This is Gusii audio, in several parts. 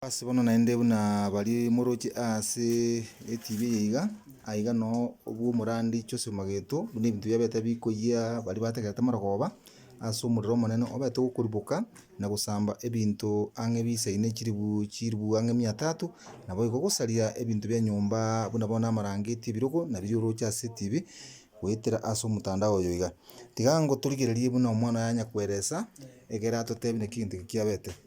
Ase bono naende buna baria moroche ase etibi eye iga, aye iga noo obwo omorandi Joseph Mageto buna ebinto biabete bikoyia baria bategerete amarogoba ase omorero omonene obete gokoriboka na gosamba ebinto ang'e bisaine chiribu chiribu ang'e mia tatu, naboigo gosaria ebinto bia nyomba buna bono amarangeti, ebirogo na biria oroche ase etibi goetera ase omotandao oyo iga. Tiga ngotorigererie buna omwana oye anyakoeresa ekero atotebie naki egento eke kiabete.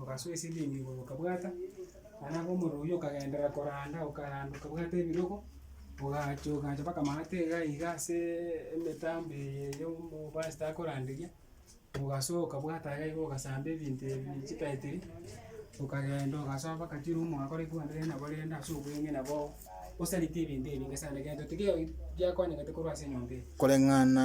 ogasoa esilingi igoro okabwata, naende nabo omorero oywo okagenderera koranda okaranda okabwata ebirogo, ogacha ogacha mpaka amaate iga iga aseeee emitambo eye ya omobasita akoranderia, ogasoa okabwata iga iga ogasamba ebinto ebi chitaitiri, okagenda ogasoa mpaka chirumu mwakore ekwanire nabo rende ase obweng'e nabo osaritie ebinto ebi nge sana egento tiga giakonyegete korwa ase enyomba eye. Koreng'ana.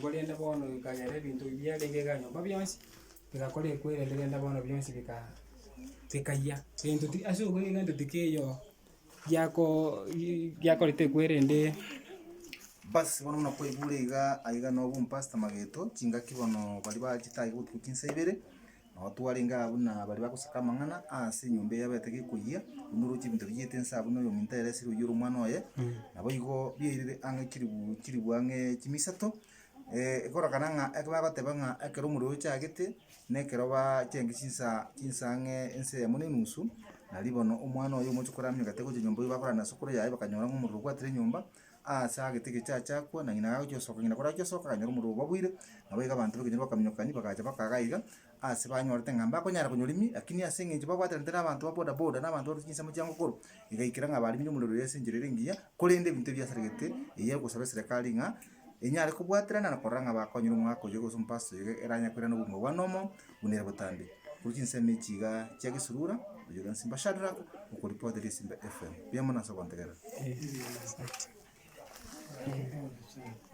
Korende bono nkagera ebinto ebi biarenge biganyomba bionsi, bigakora ekwerende rende bono bionsi bikaa bikayia. Egento ti ase obwo egento tikeioo giakoo gi- giakorete ekwerende. Bas bono buna kwaigure igaa, aiga nobompastor Mageto, chingaki bono baria baachete aye botuko chinsa ibere. Nao twarenge aa buna baria bagosaka amang'ana aase enyomba eye abaeteke ekoyia, buna orooche ebinto biyete inse aa buna oyominto aere esiri oyio ore omwana oye. Naboigo biairire ang'e chilifu chilifu ang'e chimia isato, ekorokana ng'a eke bagoteba ng'a ekero omorero ochagete, nekero baa chiaenge chinsa chinsa ang'e ense eyemo na enusu, nario bono omwana oye omochie koramia omanyete gocha nyomba oyio bakorana na sokoro yaye bakanyora ng'a omorero obwatire enyomba. Aase agete egecho aachakwa, na ng'ina agagochia gosoka, ng'ina korachia gosoka akanyora omorero obabwire, nabo iga abanto b'ekenyoro bakaminyokani, bagacha bakaga iga, aase banyorete ng'a mbakonyara konyora ime, lakini ase eng'encho babwataranete na abanto ba boda boda, na abanto barusia chinsemo chiango koro, igaikera ng'a bariminye omorero oye ase enchera ere engiya, korende ebinto ebi biasaregete, eyio egosaba eserekari ng'a enyare kobwaterana na korora ng'a bakonyire omogaka oyoge gose omopastor oyoge eranyare koirana obogima bwane omo, buna ere botambe, korwa chinsemo echi iga chia gesurura, oyore na simba Shadrack, okoripotera esimba FM. Mbuya mono ase ogontegerera.